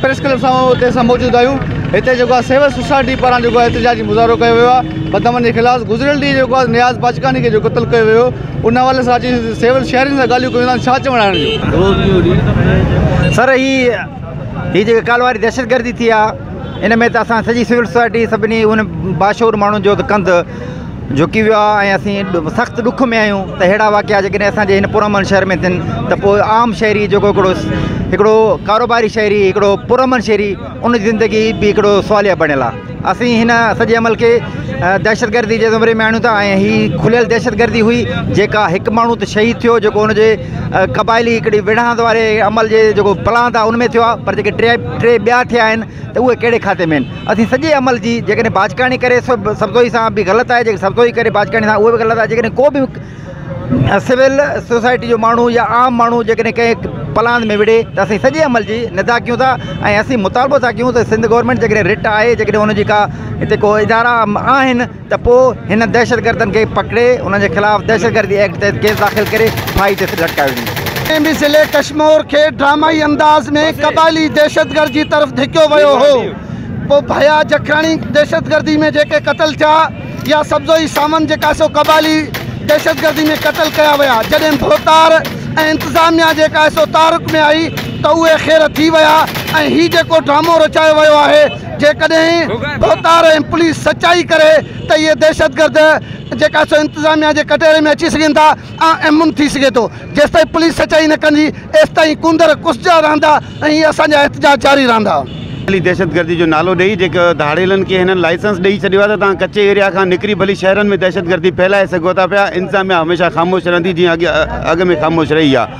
Press club سان اتي اسان موجود آهيون هتي جيڪو آهي سول سوسائٽي پاران جيڪو آهي احتجاجي مظاهرو ڪيو ويو آهي بدامن جي خلاف گذريل ڏينهن جيڪو آهي نياز باجڪاني کي جو قتل ڪيو ويو ان حوالي سان اچي سول شهرين سان ڳالهيون ڪيون ٿا ڇا چوڻ آهي سر هي هي جيڪي ڪالهه واري دهشتگردي ٿي آهي ان ۾ ته اسان سڄي سول سوسائٽي سڀني ان باشعور ماڻهن جو ته ڪنڌ جهڪي ويو آهي ۽ اسين سخت ڏک ۾ آهيون ته اهڙا واقعا جيڪڏهن اسانجي هن پرامن شهر ۾ ٿين ته پوء عام شهري جيڪو هڪڙو هڪڙو ڪاروباري شهري هڪڙو پرامن شهري ان جي زندگي به هڪڙو سواليه بڻيل آهي اسين هن سڄي عمل کي دهشتگردي جي زمري ۾ آڻيون ٿا ۽ هي کليل دهشتگردي هئي جيڪا هڪ ماڻهو ته شهيد ٿيو جيڪو ان جي قبائلي هڪڙي وڙهاند واري عمل جي جيڪو پلاند آهي ان ۾ ٿيو آهي پر جيڪي ٽي ٽي ٻيا ٿيا آهن ته اهي ڪهڙي کاتي ۾ آهن؟ اسين سڄي عمل جي جيڪڏهن باجڪاڻي ڪري سبزوئي سان به غلط آهي جيڪڏهن سبزوئي ڪري باجڪاڻي سان اهو به غلط آهي جيڪڏهن ڪو به سول سوسائٽي جو ماڻهو يا عام ماڻهو جيڪڏهن ڪنهن پلاند ۾ وڙهي ته اسين سڄي عمل جي نندا ڪيون ٿا ۽ اسين مطالبو ٿا ڪيون ته سنڌ گورنمينٽ جيڪڏهن رٽ آهي جيڪڏهن ان جي ڪا هتي ڪو ادارا آهن ته پوء هنن دهشتگردن کي پڪڙي انهن جي خلاف دهشتگردي ايڪٽ تحت ڪيس داخل ڪري ڦاهي تي لٽڪايو وڃي. ايم بي سي ليڪ ڪشمور کي ڊرامائي انداز ۾ قبائلي دهشتگرد جي طرف ڌڪيو ويو هو پوء ڀيا جکراڻي دهشتگردي ۾ جيڪي قتل ٿيا يا سبزوئي ساوند جيڪا سو قبائلي دهشتگردي ۾ قتل ڪيا ويا جڏهن ڀوتار ۽ انتظاميا جيڪا سو تعارڪ ۾ آئي ته اهي خير ٿي ويا ۽ هي جيڪو ڊرامو رچايو ويو آهي جيڪڏهن ڀوتار ۽ پوليس سچائي ڪري ته اهي دهشتگرد جيڪا سو انتظاميا جي ڪٽهڙي ۾ اچي سگهن ٿا ۽ امن ٿي سگهي ٿو. جيستائين پوليس سچائي نه ڪندي ايستائين ڪوندر ڪسجا رهندا ۽ اسان جا احتجاج جاري رهندا. ڀلي دهشتگردي جو نالو ڏئي جيڪي ڌاڙيلن کي هنن لائسنس ڏئي ڇڏيو آهي ته توهان ڪچي ايريا کان نڪري ڀلي شهرن ۾ دهشتگردي ڦهلائي سگهو ٿا پيا انتظاميا هميشه خاموش رهندي جيئن اڳ ۾ خاموش رهي آهي.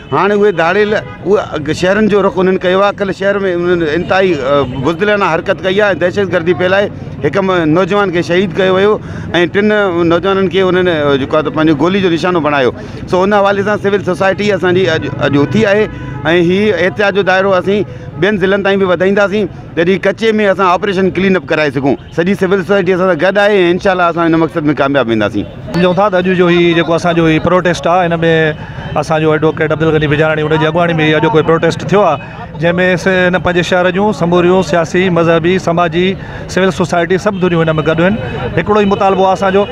هاڻ اهي ڌاڙيل اهي شهرن جو رخ انهن ڪيو آهي ڪل شهر ۾ انهن انتهائي بزدلانه حرڪت ڪئي آهي دهشت گردي ڦهلائي هڪ نوجوان کي شهيد ڪيو ويو ۽ ٽن نوجوانن کي انهن جيڪو آهي پنهنجو گولي جو نشانو بڻايو سو ان حوالي سان سول سوسائٽي اسانجي اڄ اڄ اٿي آهي ۽ هي احتجاج جو دائرو اسين ٻين ضلعن تائين به وڌائينداسين جڏهن ڪچي ۾ اسان آپريشن ڪلين اپ ڪرائي سگهون سڄي سول سوسائٽي اسان سان گڏ آهي ۽ انشاء الله اسان ان مقصد ۾ ڪامياب وينداسين. سمجهون ٿا ته اڄ جو هي جيڪو اسان جو هي پروٽيسٽ آ ان ۾ اسان جو ايڊووڪيٽ عبدالغني بجاراڻي ان جي اڳواڻي ۾ هي اڄوڪو پروٽيسٽ ٿيو آ جنهن ۾ سي ان پنهنجي شهر جون سموريون سياسي مذهبي سماجي سول سوسائٽي سڀ ڌريون ان ۾ گڏ آهن هڪڙو ئي مطالبو آ اسان جو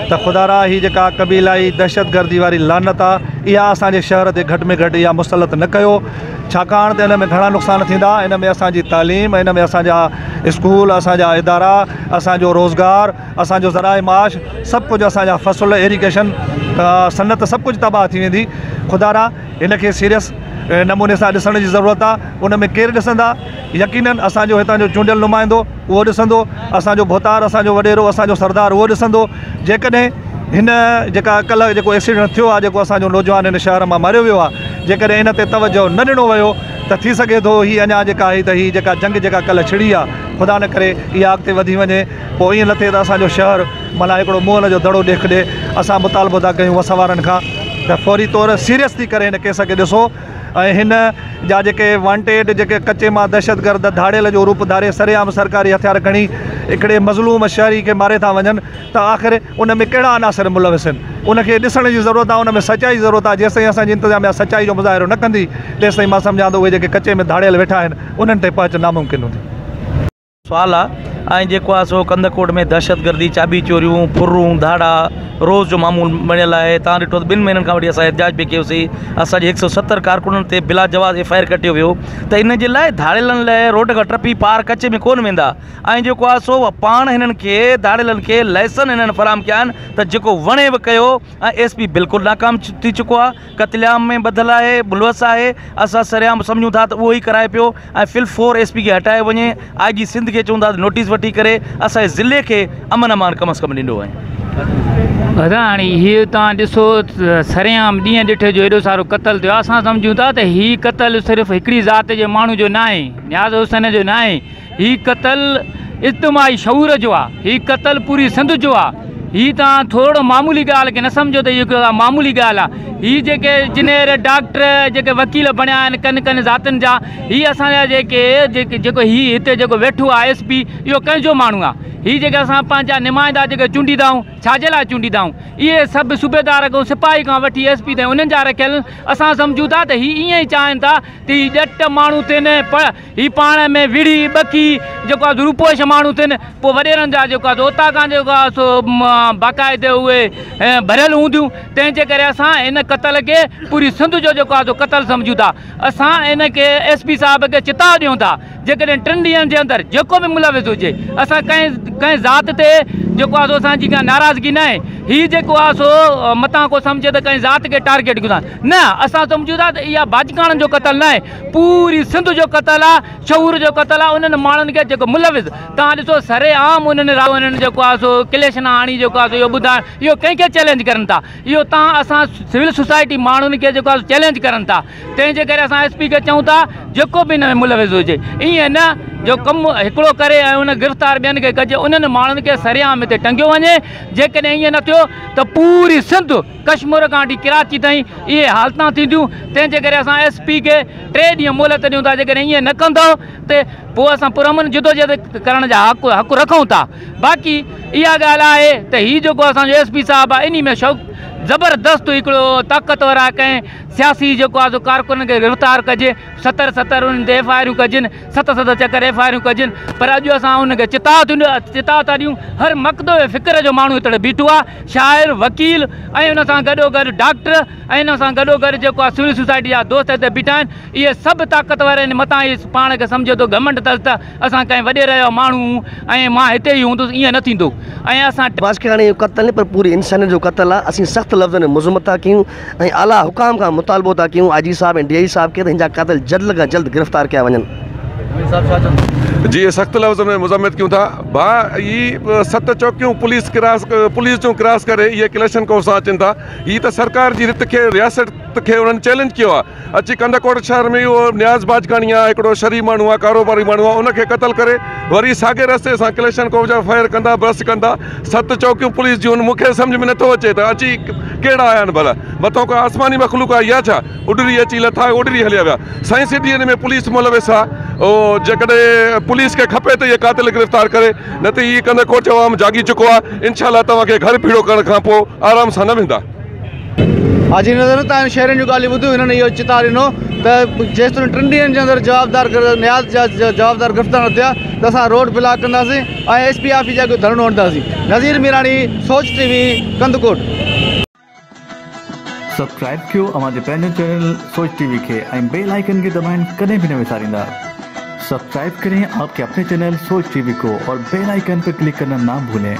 ته خدا را هي جيڪا قبيلائي دهشت گردي واري لعنت آ اها اسان جي شهر تي گهٽ ۾ گهٽ اها مسلط نه ڪيو ڇاڪاڻ ته ان ۾ گهڻا نقصان ٿيندا ان ۾ اسان جي تعليم ان ۾ اسان جا اسڪول، اسان جا ادارا، اسان جو روزگار، اسان جو ذرائع معاش سڀ ڪجهه اسان جا فصل، ايريگيشن، صنعت سڀ ڪجهه تباهه ٿي ويندي. خدا را هن کي سيريس نموني سان ڏسڻ جي ضرورت آ. ان ۾ ڪير ڏسندا؟ يقينن اسان جو هتان جو چونڊيل نمائندو اهو ڏسندو، اسان جو ڀوتار، اسان جو وڏيرو، اسان جو سردار اهو ڏسندو. جيڪڏهن هن جيڪا ڪلهه جيڪو ايڪسيڊنٽ ٿيو آ، جيڪو اسان جو نوجوان هن شهر مان ماريو ويو آ، جيڪڏهن ان تي توجهه نه ڏنو ويو ته ٿي سگهي ٿو هي اڃا جيڪا آهي ته هي جيڪا جنگ جيڪا ڪلهه ڇڙي آ خدا نه ڪري اها اڳتي وڌي وڃي پوء ائين نه ٿئي ته اسان جو شهر معنيٰ هڪڙو مئل جو دڙو ڏيک ڏي اسان مطالبو ٿا ڪيون وس وارن کان ته فوري طور سيريس ٿي ڪري هن ڪيس کي ڏسو ۽ هن جا جيڪي وانٽيڊ جيڪي ڪچي مان دهشتگرد ڌاڙيل جو روپ ڌاري سرعام سرڪاري هٿيار کڻي هڪڙي مظلوم شهري کي ماري ٿا وڃن ته آخر ان ۾ ڪهڙا عناصر ملوث آهن، ان کي ڏسڻ جي ضرورت آهي، ان ۾ سچائي جي ضرورت آهي، جيستائين اسان جي انتظاميا سچائي جو مظاهرو نه ڪندي، تيستائين مان سمجهان ٿو اهي جيڪي ڪچي ۾ ڌاڙيل ويٺا آهن، انهن تائين پهچ ناممڪن هوندي. سوال آهي ۽ جيڪو آهي سو ڪنڌڪوٽ ۾ دهشتگردي، چاٻي چوريون، ڦرون، ڌاڙا روز جو معمول بڻيل آهي، توهان ڏٺو ته ٻن مهينن کان وٺي اسان احتجاج به ڪيو سي، اسان جي هڪ سئو ستر ڪارڪنن تي بلاجواز ايف آء آر ڪٽيو ويو ته ان جي لاء ڌاڙيلن لاء روڊ کان ٽپي پار ڪچي ۾ ڪونه ويندا. ۽ جيڪو آهي سو اهو پاڻ هنن کي ڌاڙيلن کي لائسن هنن فراهم ڪيا آهن ته جيڪو وڻي به ڪيو ۽ ايس پي بلڪل ناڪام ٿي چڪو آهي قتل عام ۾ ٻڌل آهي ملوث آهي اسان سرعام سمجهون ٿا ته اهو ئي ڪرائي پيو ۽ في الفور ايس پي کي هٽايو وڃي آئي جي سنڌ کي چون ٿا ته نوٽيس وٺي ڪري اسان جي ضلعي کي امن امان ڪم از ڪم ڏيندو ۽ ادا هاڻي هي توهان ڏسو سرعام ڏينهن ڏٺ جو ايڏو سارو قتل ٿيو آهي اسان سمجهون ٿا ته هي قتل صرف هڪڙي ذات جي ماڻهو جو ناهي نياز حسين جو ناهي هي قتل اجتماعي شعور جو آ. هي قتل پوري سنڌ جو آ. هي توهان ٿورڙو معمولي ڳالهه کي نه سمجهو ته هي ڪو معمولي ڳالهه آ. هي جيڪي جنير، ڊاڪٽر، جيڪي وڪيل بڻيا آهن ڪن ڪن ذاتن جا، هي اسان جا جيڪي جيڪو هي هتي جيڪو ويٺو آ ايس پي اهو ڪنهن جو ماڻهو آ؟ هي جيڪي اسان پنهنجا نمائندا جيڪي چونڊيندا آهيون ڇا جي لاء چونڊيندا آهيون؟ اهي سڀ صوبيدار کان سپاهي کان وٺي ايس پي تائين انهن جا رکيل آهن. اسان سمجهون ٿا ته هي ائين ئي چاهين ٿا ته هي ڄٽ ماڻهو ٿين ۽ هي پاڻ ۾ وڙهي، ٻڪي، جيڪو آهي سو روپوش ماڻهو ٿين، پوء وڏيرن جا جيڪو آهي سو اوطاقان جيڪو آهي سو باقاعدي اهي ڀريل هونديون، تنهن جي ڪري اسان ان قتل کي پوري سنڌ جو جيڪو آهي سو قتل سمجهون ٿا. اسان ان کي ايس پي صاحب کي چتاء ڏيون ٿا، جيڪڏهن ٽن ڏينهن جي اندر جيڪو به ملوث هجي، اسان ڪنهن ڪنهن ذات تي جيڪو آهي سو اسان جي ڪا ناراضگي ناهي، هي جيڪو آهي سو متان ڪو سمجهي ته ڪنهن ذات کي ٽارگيٽ ڪيون ٿا، نه اسان سمجهون ٿا ته اها باجڪاڻن جو قتل ناهي، پوري سنڌ جو قتل آ شعور جو قتل آ انهن ماڻهن کي جيڪو ملوث توهان ڏسو سري عام انهن راهون انهن جيڪو آ سو ڪليشن آڻي جيڪو آ سو اهو ٻڌائڻ اهو ڪنهن کي چئلينج ڪرن ٿا اهو توهان اسان سول سوسائٽي ماڻهن کي جيڪو آ سو چئلينج ڪرن ٿا تنهن جي ڪري اسان ايس پي کي چئون ٿا جيڪو به ان ۾ ملوث هجي ائين نه جو ڪم هڪڙو ڪري ۽ ان گرفتار ٻين کي ڪجي انهن ماڻهن کي سري عام هتي ٽنگيو وڃي جيڪڏهن ائين نه ٿيو ته پوري سنڌ ڪشمور کان وٺي ڪراچي تائين اهي حالتان ٿينديون تنهن جي ڪري اسان ايس پي کي ٽي ڏينهن مهلت ڏيون ٿا جيڪڏهن ايئن نه ڪندو ته پوء اسان پرامن جدوجهد ڪرڻ جا حق رکون ٿا باقي اها ڳالهه آهي ته هي جيڪو اسان جو ايس پي صاحب آهي انهي ۾ شوق زبردست هڪڙو طاقتور آهي ڪنهن سياسي جيڪو آهي سو ڪارڪنن کي گرفتار ڪجي ستر ستر انهن تي ايف آء آرون ڪجن ست ست چڪر ايف آء آريون ڪجن پر اڄ اسان ان کي چتاء چتاء ٿا ڏيون هر مڪدو ۽ فڪر جو ماڻهو هتڙي بيٺو آهي شاعر وڪيل ۽ ان سان گڏو گڏ ڊاڪٽر ۽ ان سان گڏو گڏ جيڪو آهي سول سوسائٽي جا دوست هتي بيٺا آهن اهي سڀ طاقتور آهن متان اهي پاڻ کي سمجهي ٿو گهمنڊ تس ته اسان ڪنهن وڏيري جو ماڻهو هون ۽ مان هتي ئي هوندس ائين نه ٿيندو ۽ اسان ماسڪياڻي جو قتل نه پر پوري انسانيت جو قتل آهي اسين سخت لفظن ۾ مذمت ٿا ڪيون ۽ اعليٰ حڪام کان مطالبو ٿا ڪيون آء جي صاحب ۽ ڊي آء جي صاحب کي ته هن جا قاتل جلد کان جلد گرفتار ڪيا وڃن. جي سخت لفظن ۾ مذمت ڪيون ٿا ڀا هي ست چوڪيون پوليس ڪراس پوليس جون ڪراس ڪري اهي ڪليشن ڪوف سان اچن ٿا هي ته سرڪار جي رٿ کي رياست کي انهن چئلينج ڪيو آهي اچي ڪنڌڪوٽ شهر ۾ اهو نياز باجڪاڻي آ هڪڙو شري ماڻهو آ ڪاروباري ماڻهو آ ان کي قتل ڪري وري ساڳي رستي سان ڪليشن ڪوف جا فائر ڪندا برسٽ ڪندا ست چوڪيون پوليس جون مون کي سمجھ ۾ نٿو اچي ته اچي ڪهڙا آيا آهن ڀلا مٿو ڪا آسماني مخلوق آئي آ ڇا اڏري اچي لٿا اڏري هليا ويا سائين سٽي ان ۾ پوليس ملوث آ او جيڪڏهن پوليس کي کپي ته اهي قاتل گرفتار ڪري نه ته هي ڪنڌڪوٽ جو عوام جاڳي چڪو آ انشاء الله توهان کي گهر ڀيڙو ڪرڻ کان پو آرام سان نه ويندا. حاجي نظر نه تائين شهرين جون ڳالهيون ٻڌيون، هنن اهو چتاء ڏنو ته جيستائين ٽن ڏينهن جي اندر جوابدار نياز جا جوابدار گرفتار نه ٿيا ته اسان روڊ بلاڪ ڪنداسين ۽ ايس پي آفيس جي اڳ ڌرڻو هڻنداسين، Nazir Mirani, Soch T V, Kandhkot. Subscribe ڪيو اوهان جي پنهنجو چينل سوچ ٽي وي کي ۽ بيل آئيڪن کي دٻائڻ ڪڏهن به نه وساريندا سبسڪرائب ڪرين آپ ڪي اپني چينل سوچ ٽي وي ڪو اور بيل آئيڪن پي ڪلڪ ڪرنا نا ڀولين.